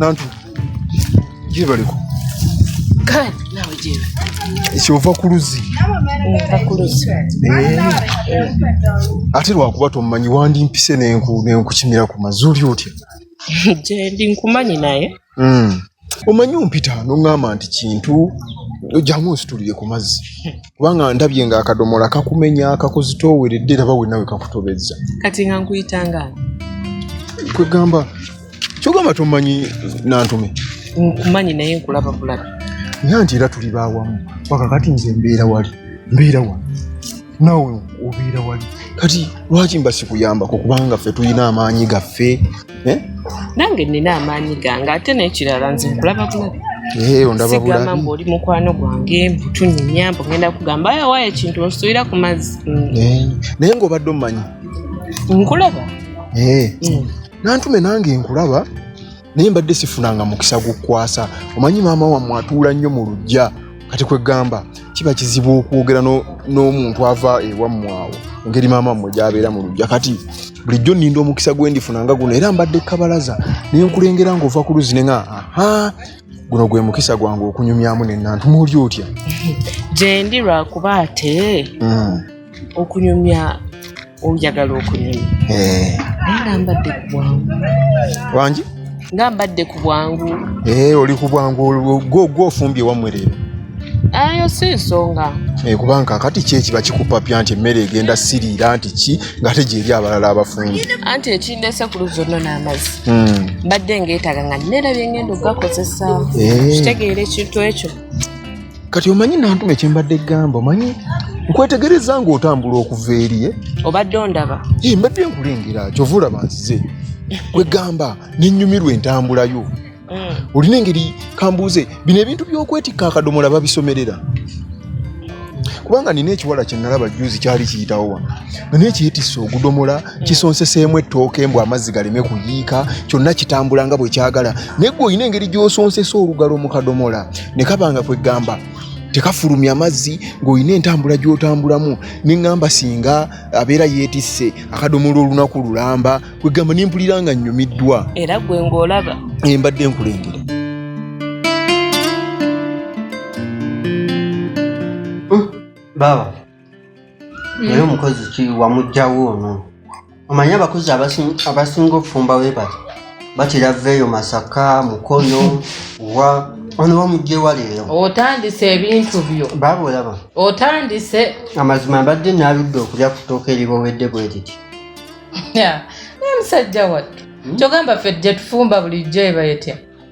nantu gyebaliko kale nawe gyeba kyova ku luzzi ate lwakuba tomumanyi wandimpise nenkukimira ku mazuli otya gyendi nkumanyi naye hmm. omanyi ompita noŋŋamba nti kintu jamu nsitulire ku mazzi kubanga ndabye nga akadomola kakumenya kakuzitooweredde raba wenawe kakutobezza kati nga nkuyitanga kwegamba kyogamba tomanyi nantume nkumanyi naye nkulaba bulabi nga nti era tuli bawamu wakakati nze mbeera wali mbeera wano naawe obeera wali kati lwaki mba sikuyambako kubanga ffe tulina amaanyi gaffe eh? nange nina amaanyi gange ate nekirala nze nkulaba bulabi eh, sigamba mbu oli mukwano gwange mbutunyumya mbu ngenda kugamba ayo wayo ekintu onsuulira ku mazzi mm. eh, naye ngaobadde omumanyi nkulaba nantume nange nkulaba naye mbadde sifunanga mukisa gukwasa omanyi maama wammwe atuula nnyo mu lujja kati kwegamba kiba kizibu okwogera n'omuntu ava ewammwe awo engeri maama mmwe gyabeera mu lujja kati bulijjo nninda omukisa gwe ndifuna nga guno era mbadde kabalaza naye nkulengera ng'ova ku luzzi ne nga aha guno gwe mukisa gwange okunyumyamu nenantu muoli otya gyendi lwakuba ate hmm. okunyumya oyagala okunyumya eh. naye nga mbadde ku bwangu wangi nga mbadde ku bwangu eh, oli ku bwangu gwe ofumbye wammwe leero ayo si nsonga eh, kubanga kakati ki ekiba kikupapya nti emmere egenda siriira nti ki ngate gyeri abalala abafumbi anti ekindese ku luzi olno n'amazzi hmm. mbadde ngeetaga nga nera byengenda okugakozesa kitegeera ekintu ekyo kati omanyi nantuma ekyembadde gamba omanyi nkwetegereza nga otambula okuva eriye obadde ondaba mbadde nkulengera kyova olaba nzize kwegamba nenyumirwa entambulayo mm. olina engeri kambuuze bino ebintu byokwetikka akadomola babisomerera kubanga nina ekiwala kyenalaba juzi kyali kiyitawo wano nga naye kyetisse ogudomola hmm. kisonseseemu ettooke mbu amazzi galeme kuyiika kyonna kitambula nga bwe kyagala naye gwe olina engeri gy'osonsesa olugalo mu kadomola ne kaba nga kweggamba tekafulumya amazzi ng'olina entambula gy'otambulamu ne ŋŋamba singa abeera yeetisse akadomola olunaku lulamba kweggamba ne mpulira nga nnyumiddwa era gwe ng'olaba embadde nkulengera baaba naye mm. omukozi ki wamugjawo ono omanyi abakozi abasinga okufumba webali batera veeyo masaka mukono wa ono wamugjewa leero otandise ebintu byo baaba olaba otandise amazima mbadde naludde okulya kutooka eribowedde bwe liti naye musajja wattu hmm? kyogamba ffe tujja tufumba bulijjo eba etya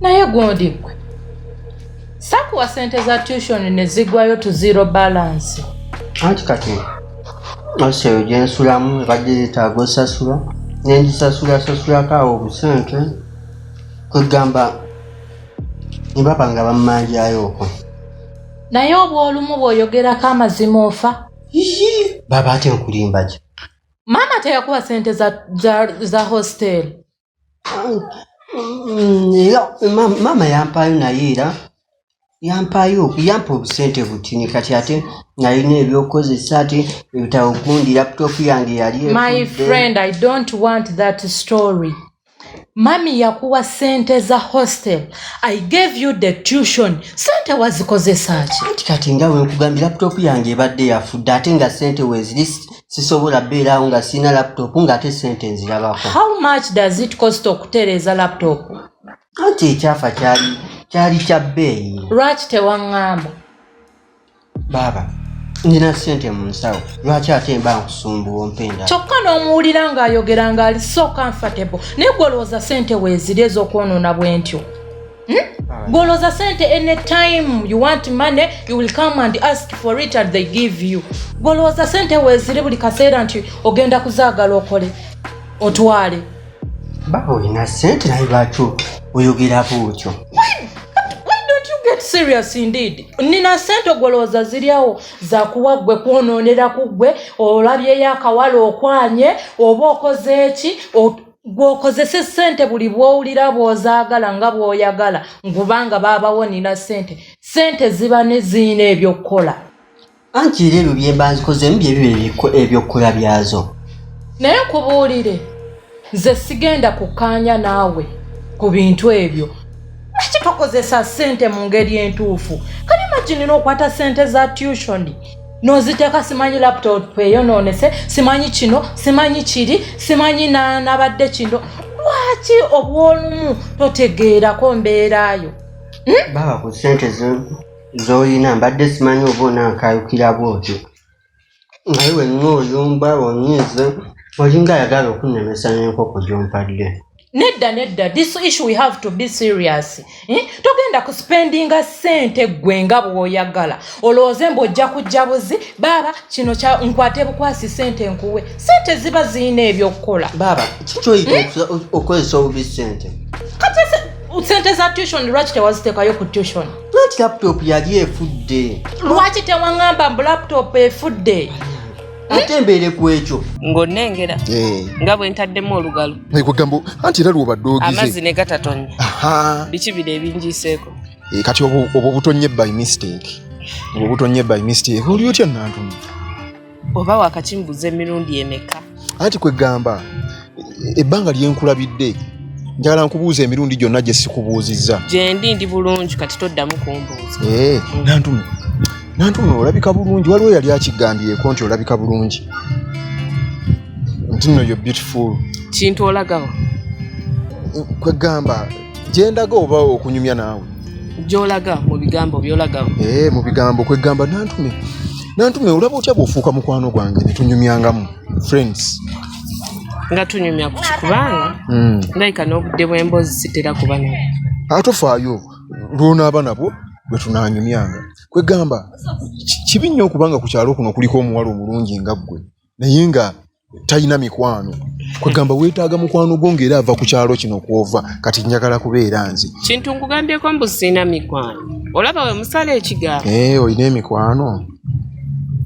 naye gundi gwe sakuwa sente za tushoni ne zigwayo tu zero balance anti kati ose eyo gye nsulamu ebadde yeetaaga osasula ne ngisasulasasulako awo obusente kwegamba ne baba nga bammanjayo okwo naye obw olumu bw'oyogerako amazima ofa baba ate nkulimba ki maama teyakuwa sente za, za, za hosteli era maama yampaayo naye era yampaayo yampa obusente butini kati ate nalina ebyokukozesa ate ebitabo gundi laputopu yange yali my friend i don't want that story mami yakuwa sente za hostel i gave you the tution sente wazikozesa ki anti kati nga wenkugambye laputopu yange ebadde yafudde ate nga sente weziri sisobola beerawo nga sirina laptop nga ate sente nzirabako how much does it cost okutereeza laptop anti ekyafa kyali kyali kya bbeeyi lwaki tewaŋŋamba baaba nina sente mu nsawo lwaki ate mba nkusumbuwa ompenda kyokka n'omuwulira ng'ayogera ng'ali so comfortable naye gwolowooza sente weeziri ez'okwonoona bwentyo Hmm? Goloza sente any time you want money you will come and ask for it and they give you. Goloza sente wezire buli kaseera nti ogenda kuzaagala okole otwale. Baba olina sente naye lwaki oyogera bwotyo? get serious indeed nina sente ogolowooza ziryawo zakuwa ggwe kwonoonera ku ggwe olabyeyo akawala okwanye oba okoze eki gwokozese sente buli bwowulira bwozaagala nga bwoyagala ngubanga baabawonira sente sente ziba neziina ebyokukola anti era ebyo byembanzikozemu byebiba ebyokukola byazo naye nkubuulire nze sigenda kukkaanya naawe ku bintu ebyo lwaki tokozesa sente mu ngeri entuufu kali maginira okwata sente za tushoni noziteeka simanyi laptop eyonoonese simanyi kino simanyi kiri simanyi nabadde kino lwaki obwolumu totegeerako mbeerayo hmm? baba ku sente zoyina mbadde simanyi oba onankayukira bwotyo naye wenna oyumba onyiize olinga ayagala okunnemesa n'enkoko gyompadde nedda nedda this issue we have to be serious eh? togenda ku spendinga sente gwe nga bwoyagala olowooze mbu ojja kujja buzi baaba kino kya nkwate bukwasi sente nkuwe sente ziba zirina ebyokukola baaba kikyoyita hmm? okozesa obubi sente kati sente za tution lwaki tewaziteekayo ku tution lwaki laptop yali efudde lwaki tewaŋamba mbu laptop efudde ate embeere ku ekyo ng'onengera eh. nga bwe ntaddemu olugalo kwegamba anti era lwobadde ogize amazzi ne gatatonnya biki biri ebinjiiseeko eh, kati obwo obutonye by mistake obwo obutonye by mistake oli otya nantumu oba wakakimbuza emirundi emeka anti kwegamba ebbanga lyenkulabidde njagala nkubuuza emirundi gyonna gye sikubuuzizza gyendi ndi bulungi kati toddamu kumbuuza eh, nantuno nantuno olabika bulungi waliwo yali akigambyeko nti olabika bulungi nti no yo beautiful kintu olagawo kwegamba gyendaga oba okunyumya naawe gyolaga mu bigambo byolagawo eh, mu bigambo kwegamba nantume nantume olaba otya bwofuuka mukwano gwange netunyumyangamu friends nga tunyumya ku kikubanga hmm. ndayika n'obudde bw'emboozi sitera kuba nabo atofaayo lwonaaba nabwo bwe tunaanyumyanga kwegamba kibi nnyo okuba nga ku kyalo kuno kuliko omuwala omulungi nga ggwe naye nga talina mikwano kwegamba weetaaga mukwano gwo ngaera ava ku kyalo kino kwova kati njagala kubeera nze kintu nkugambyeko mbu siina mikwano olaba we musala ekigambo eh, olina emikwano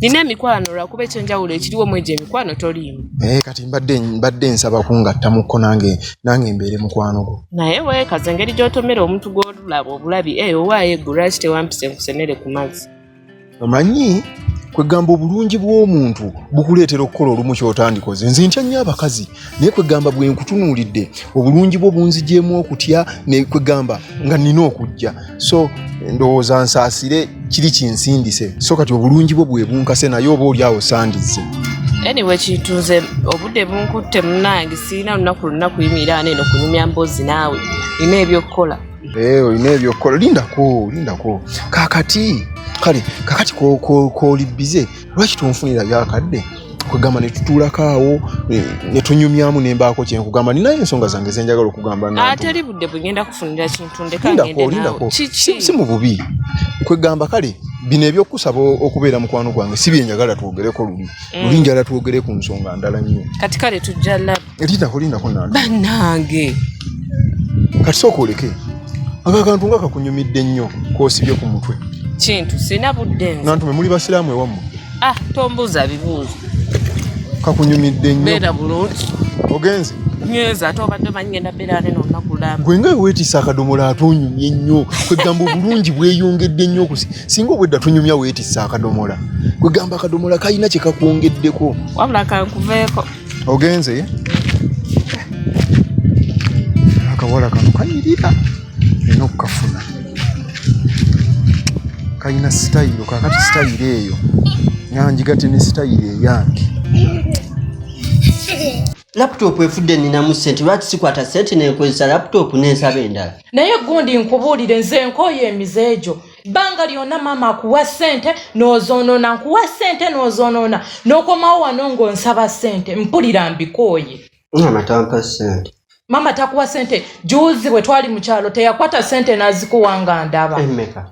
nina emikwano lwakuba ekyenjawulo ekiriwo mu egyo emikwano toliimu naye eh, kati mbadde mbadde nsaba kungattamukko nange nange mbeere mukwano gwo naye weekaza engeri gy'otomera omuntu gw'olulaba obulabi eyo eh, owaayo eggu lwaki tewampisa enkusenere ku mazzi omanyi kwegamba obulungi bw'omuntu bukuleetera okukola olumu kyotandikoze nze ntya nnyo abakazi naye kwegamba bwe nkutunuulidde obulungi bwo bunzigyemu okutya kwegamba nga nina okujja so ndowooza nsaasire kiri kinsindise so kati obulungi bwo bwe bunkase naye oba oli awo sandizze anyway kituuze obudde bunkutte munange sirina lunaku lunaku yimiraana eno kunyumya mboozi naawe nina ebyokukola eh, olina ebyokukola lindako lindako kakati kale kakati koli bize lwaki tonfunira byakadde kwegamba netutuulako awo netunyumyamu nembaako kyenkugamba ninayo ensonga zange zenjagala okugamba ateri ah, budde bwegenda kufunira kintu ndekaolindako si mu bubi kwegamba kale bino ebyokusaba okubeera mukwano gwange si byenjagala twogereko luli mm. luli njala twogere ku nsonga ndala nnyo kati kale tujja Elita kulinda kuna. Banange. Kati soko oleke. Aka kantu nga kakunyumidde nnyo kosibye ku mutwe. Kintu sina budde. Nantu mwe muli basiramu ewamu. Ah, tombuza bibuzo. Kakunyumidde nnyo. Bera bulungi. Ogenze. Nyeza ate obadde manyi ngenda bera ne no nakulamba. Gwe nga wetisa akadomola atonyumye nnyo. Kwe gamba bulungi bweyongedde nnyo kusi. Singa obwedda tunyumya wetisa akadomola. Kwe gamba akadomola kalina kye kakwongeddeko. Wabula kankuveeko. ogenze ye akawala kano kanyirira ina okukafuna kalina sitayiro kakati sitayiro eyo nanjigate ne sitayiro eyange laputopu efudde ninamu sente lwaki sikwata sente nenkozesa laputopu nensaba endala naye gundi nkubuulire nze nkooyo emize egyo ebbanga lyona maama akuwa sente nozoonona nkuwa sente nozoonona nokomawo wano ngaonsaba sente mpulira mbikooye maama tampa sente maama takuwa sente juuzi bwe twali mu kyalo teyakwata sente nazikuwa nga ndaba emeka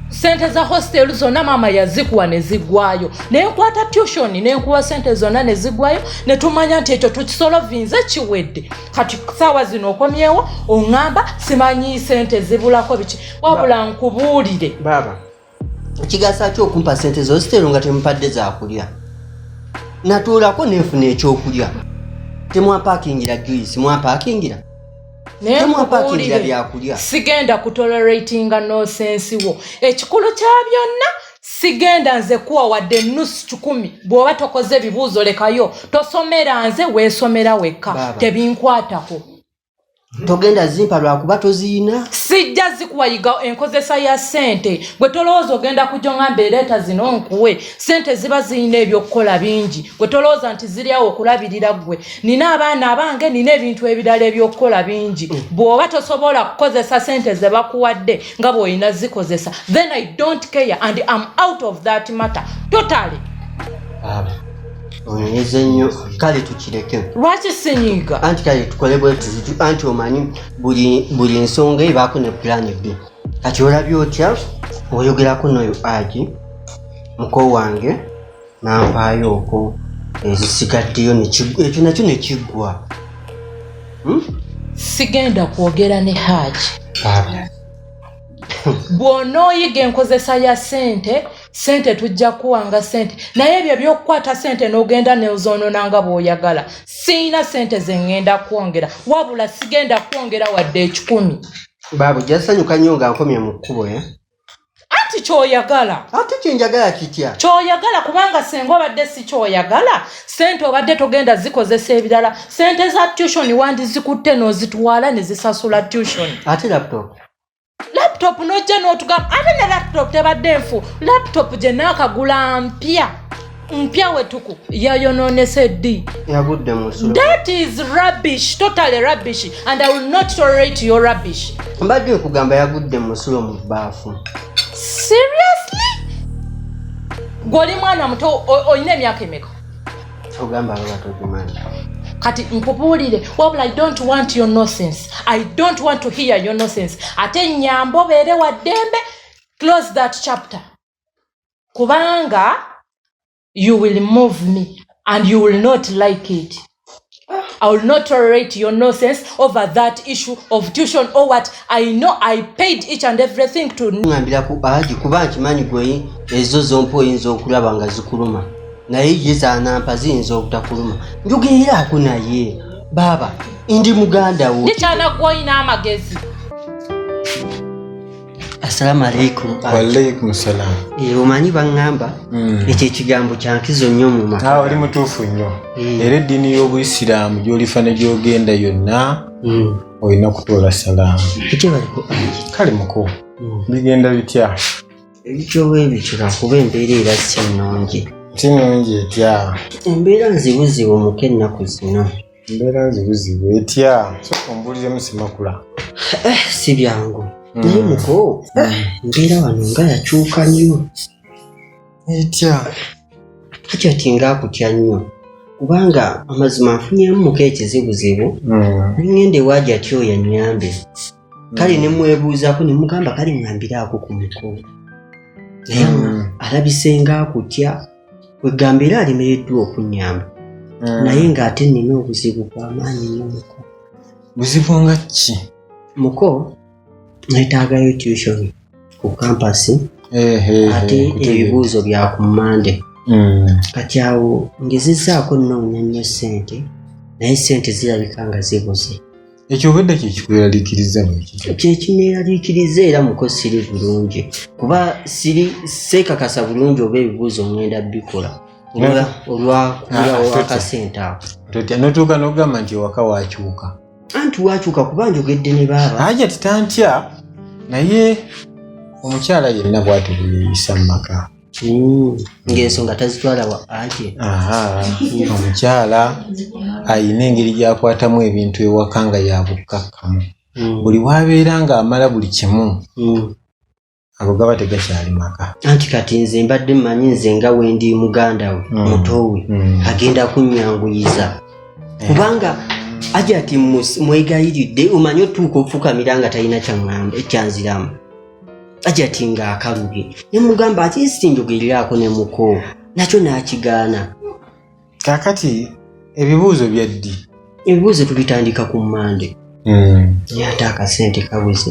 sente za hostel zonna maama yazikuwa nezigwayo nenkwata tution nenkuwa sente zonna nezigwayo netumanya nti ekyo tukisolovinze kiwedde kati saawa zino okomyewo oŋamba simanyi sente zibulako biki wabula nkubuulire baaba kigasa ki okumpa sente zo ziteero nga temupadde zakulya natuulako nenfuna ekyokulya temwapakingira juisi mwapakingira temwapakingira byakulya sigenda kutoleratinga nosensi wo ekikulu kya byonna sigenda nze kuwa wadde enusu kikumi bw'oba tokoze ebibuuzo lekayo tosomera nze weesomera wekka tebinkwatako togenda zimpa lwakuba toziyina sijja zikuwayiga enkozesa ya sente gwe tolowooza ogenda kujongamba ereeta zino nkuwe sente ziba ziyina ebyokukola bingi gwe tolowooza nti ziryawo okulabirira gwe nina abaana abange nina ebintu ebirala ebyokukola bingi mm. bwoba tosobola kukozesa sente zebakuwadde nga bwoyina zikozesa then i don't care and am out of that matter totally onyonyeza ennyo kale tukireke lwaki senyiga anti kale tukole bwetuzitu anti omanyi buli nsonga ebaako ne pulaani bbi kati olabye otya oyogerako noyo agi muko wange nampaayo oko ezisigaddeyo ekyo nakyo nekiggwa hmm? sigenda kwogera ne haji bw'onooyiga enkozesa ya sente sente tujja kuwanga sente naye ebyo ebyokukwata sente n'ogenda neozoonona nga bw'oyagala siina sente ze ŋŋenda kwongera wabula sigenda kwongera wadde ekikumi baabu jasanyuka nnyo nga nkomye mu kkubo e anti kyoyagala ate kyenjagala kitya kyoyagala kubanga senga obadde si kyoyagala sente obadde togenda zikozesa ebirala sente za tution wandi zikutte nozitwala nezisasula tution ate laptop laptop nojja n'otugamba ate ne laptop tebadde nfu laptop gye naakagula mpya mpya wetuku yayononese ddi yagudde musu that is rubbish totally rubbish and i will not tolerate your rubbish mbadde okugamba yagudde musulo mu baafu seriously gwoli mwana muto olina emyaka emeka kyogamba baba tokimanyi kati nkubuulire wabula i don't want your nonsense i don't want to hear your nonsense ate nyamba obeere wa ddembe close that chapter kubanga you will move me and you will not like it I will not tolerate your nonsense over that issue of tuition or what I know I paid each and everything to ngambira ku aji kuba nkimanyi gwe ezo zompa oyinza okulaba nga zikuluma naye ye zanampa ziyinza obutakuluma njogeeraako naye baaba ndi muganda wo nikyana gwolina amagezi assalamu alaikum waalaikum salam eh, omanyi baŋŋamba hmm. ekyo ekigambo kyankizo nnyo mu maka ah, oli mutuufu nnyo eh. era eddiini y'obuisiraamu gy'olifa ne gy'ogenda yonna hmm. olina kutoola salaamu kale muko hmm. bigenda bitya ebityoba ebitula kuba embeera era si nnungi si nnungi etya embeera nzibuzibu muko ennaku zino embeera nzibuzibu etya soka ombuliremu simakula eh, si byangu hmm. naye muko eh, embeera wano nga yakyuka nnyo etya hakyati ngaakutya nnyo kubanga amazima nfunyemu muko ekizibuzibu hmm. nengenda ewaajati oyo annyambe kale ne mwebuuzaako ne mugamba kale ŋambiraako ku muko naye mm. alabise nga akutya kwegamba era alemereddwa okunyamba mm. naye ng'ate nnina obuzibu bwamaanyi nyo muko buzibu nga ki muko netaagayo tution ku kampasi ate ebibuuzo bya ku mmande mm. kati awo ngezezaako nnoonya nnyo ssente naye ssente zirabika nga zibuze ekyo obedde kyekikweraliikiriza kyekineeraliikiriza era muko siri bulungi kuba siri seekakasa bulungi oba ebibuuzo omwenda bikola olwakasente ah, ako notuuka nogamba nti ewaka wakyuka anti wakyuka kuba njogedde ne baaba aja titantya naye omukyala yenna bwati bweyeyisa mu maka hmm. ng'ensonga tazitwala wa anti omukyala alina engeri gyakwatamu ebintu ewaka nga yabukkakkamu hmm. buli wabeera ng'amala buli kimu hmm. ago gaba tegakyali maka anti kati nze mbadde mmanyi nze nga wendi muganda we mutowe agenda kunnyanguyiza eh. kubanga ajati mwegayiridde omanyi otuuka okufukamira nga talina kyanziramu ajati nga akalubye nemugamba ati esinjogererako ne muko nakyo n'akigaana kaakati ebibuuzo byaddi ebibuuzo tubitandika ku mmande hmm. naye ate akasente kabuze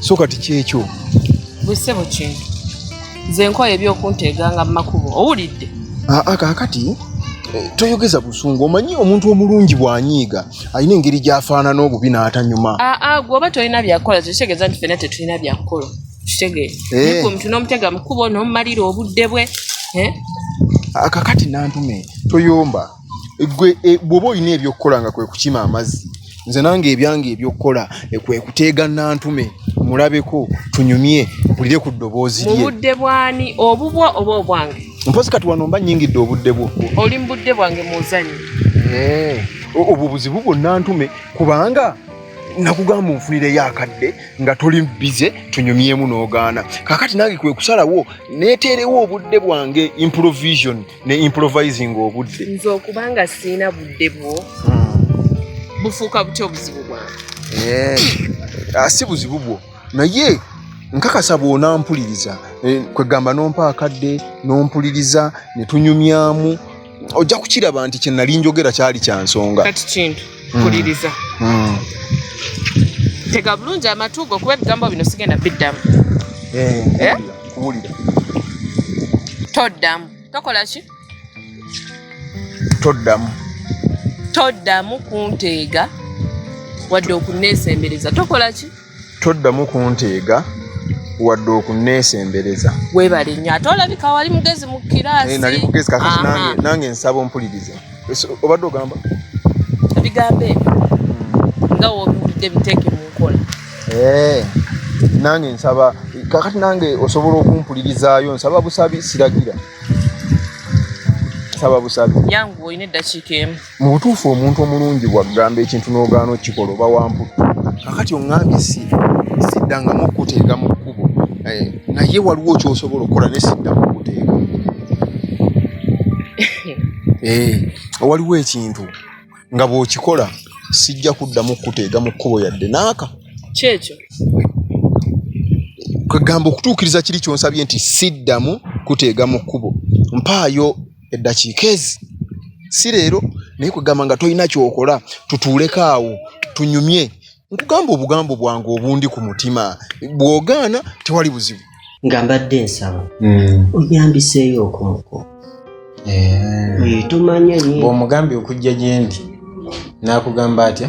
so kati kyekyo bwesebo kintu nze nkola ebyokunteega nga mumakubo owulidde aa ah, ah, kakati eh, toyogeza busungu omanyi omuntu omulungi bwanyiiga alina engeri gyafaanana obubi n'atanyuma aa ah, gwe oba tolina byakukola kitegeeza nti fena tetulina byakukola kitegeeza eh. omuntu n'omutega mukubo n'omumalira obudde bwe eh? kakati nantume toyomba gwe e, bwoba olina ebyokukola nga kwekukima amazzi nze nange ebyange ebyokukola e, kwekuteega nantume mulabeko tunyumye bulire ku ddoboozi lye mubudde bwani obubwo oba obwange mpozi kati wano mba nyingidde obudde bwo oli mubudde bwange muzanyi eh, obwo buzibu bwonna ntume kubanga nakugamba onfunireyo akadde nga toli bize tunyumyemu n'ogaana kakati nange kwe kusalawo neeteerewo obudde bwange improvision ne improvising obudde nze okubanga siina budde bwo hmm. bufuuka butya obuzibu bwange eh, ah, si buzibu bwo naye nkakasa bwonampuliriza eh, kwegamba nompa akadde nompuliriza netunyumyamu ojja kukiraba nti kyenali njogera kyali kyansonga mm. kuliriza mm. tega bulungi amatu go kuba ebigambo bino sigenda biddamu eh, eh? kuwulira toddamu tokola ki toddamu toddamu kunteega wadde okunneesembereza tokola ki Toddamu kunteega wadde okunneesembereza. Weebale nnyo. Ate olabika wali mugezi mu kiraasi. Eh, nali mugezi kakati nange nange nsaba ompulirize. Obadde ogamba? Ebigambo ebyo hmm. nga w'obiwulidde biteeke mu nkola. Eh, nange nsaba kakati nange osobola okumpulirizaayo nsaba busabi siragira nsaba busabi. Yangu olina eddakiika emu. Mu butuufu omuntu omulungi bw'aggamba ekintu n'ogaana okukikola oba wa mputtu. Kaakati oŋŋambye si, siddangamu okukuteega mu kkubo, eh, naye waliwo ky'osobola okukola naye siddamu kukuteega. Eh, waliwo ekintu nga bw'okikola sijja kuddamu kukuteega mu kkubo yadde n'aka. Ky'ekyo. Kwe ggamba okutuukiriza kiri ky'onsabye nti siddamu kuteega mu kkubo mpaayo. eddakiika ezi si leero naye kugamba nga tolina kyokola tutuuleko awo tunyumye nkugamba obugambo bwange obundi ku mutima bwogaana tewali buzibu nga mbadde nsaba hmm. oyambiseeyo okumukwo eh. eh, tomanya omugambye okujja gyendi nakugamba atya